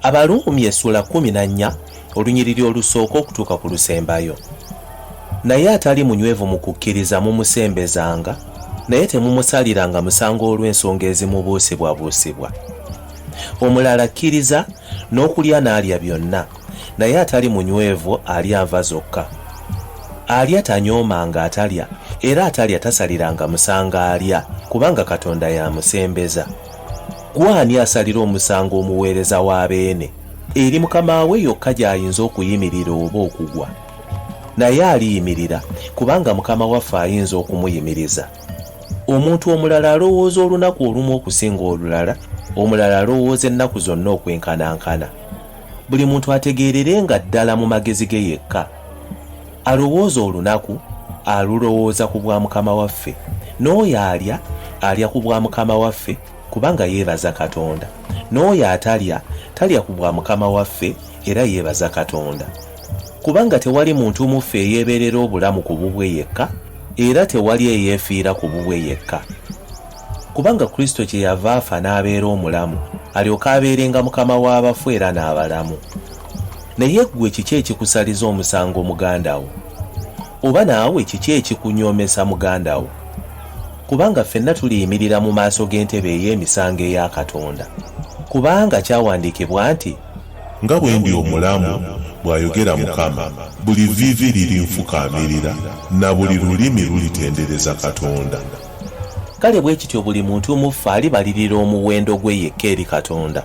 abaluumi essuula kumi na nnya olunyiriri olusooka okutuuka ku lusembayo naye atali munywevu mu kukkiriza mumusembezanga naye temumusaliranga musango olw'ensonga ezimubuusibwabuusibwa omulala akkiriza n'okulya n'alya byonna naye atali munywevu alya nva zokka alya tanyooma nga atalya era atalya tasaliranga musango alya kubanga katonda yamusembeza gwani asalira omusango omuweereza wa beene eri mukama we yokka gy'ayinza okuyimirira oba okugwa naye aliyimirira kubanga mukama waffe ayinza okumuyimiriza omuntu omulala alowooza olunaku olumu okusinga olulala omulala alowooza ennaku zonna okwenkanankana buli muntu ategeerere nga ddala mu magezi ge yekka alowooza olunaku alulowooza ku bwa mukama waffe n'oyo alya alya ku bwa mukama waffe kubanga yeebaza katonda n'oyo atalya talya ku bwa mukama waffe era yeebaza katonda kubanga tewali muntu muffe eyeebeerera obulamu ku bubwe yekka era tewali eyeefiira ku bubwe yekka Kubanga Kristo kye yava afa n'abeera omulamu, alyoke abeerenga Mukama w'abafu era n'abalamu. Naye ggwe kiki ekikusaliza omusango muganda wo? Oba naawe kiki ekikunyoomesa muganda wo? Kubanga ffenna tuliyimirira mu maaso g'entebe ey'emisango eya Katonda. Kubanga kyawandiikibwa nti. Nga bwe ndi omulamu, bw'ayogera Mukama, buli vviivi lirinfukaamirira, na buli lulimi lulitendereza Katonda. Kale bwe kityo buli muntu mu ffe alibalirira omuwendo gwe yekka eri Katonda.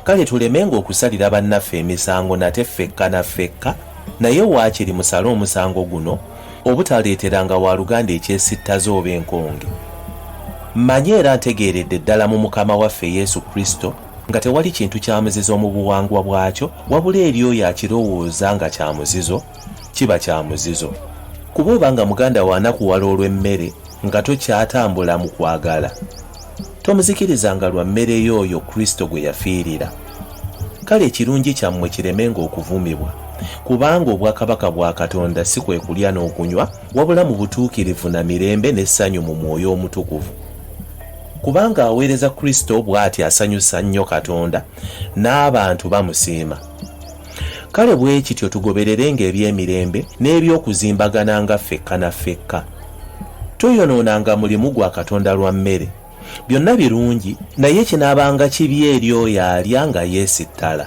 Kale tulemenga okusalira bannaffe emisango nate ffekka na ffekka, naye waakiri musale omusango guno, obutaleeteranga waaluganda ekyesittaza oba enkonge. Mmanyi era ntegeeredde ddala mu Mukama waffe Yesu Kristo nga tewali kintu kya muzizo mu buwangwa bwakyo, wabula eri oyo akirowooza nga kya muzizo, kiba kya muzizo. Kuba obanga muganda wo anakuwala olw'emmere, nga tokyatambula mu kwagala tomuzikirizanga lwa mmere yo oyo kristo gwe yafiirira kale ekirungi kyammwe kiremenga okuvumibwa kubanga obwakabaka bwa katonda si kwe kulya n'okunywa wabula mu butuukirivu na mirembe n'essanyu mu mwoyo omutukuvu kubanga aweereza kristo bw'ati asanyusa nnyo katonda n'abantu bamusiima kale bwe kityo tugobererenga eby'emirembe n'eby'okuzimbagana nga ffekka na ffekka Toyonoonanga mulimu gwa Katonda lwa mmere. Byonna birungi, naye kinaabanga kibi eri oyo alya nga yeesittala.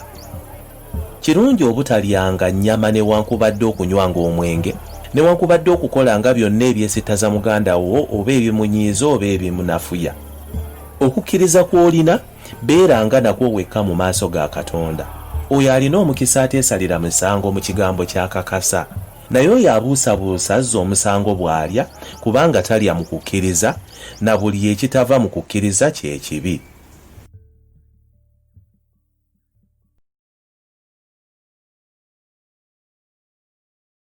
Kirungi obutalyanga nnyama newankubadde okunywanga omwenge, newankubadde okukolanga byonna ebyesittaza muganda wo oba ebimunyiiza oba ebimunafuya. Okukkiriza kw'olina, beeranga nakwo wekka mu maaso ga Katonda. Oyo alina omukisa ateesalira musango mu kigambo ky'akakasa. Naye oyo abuusabuusa azza omusango bw'alya, kubanga talya mu kukkiriza, na buli ekitava mu kukkiriza kye kibi.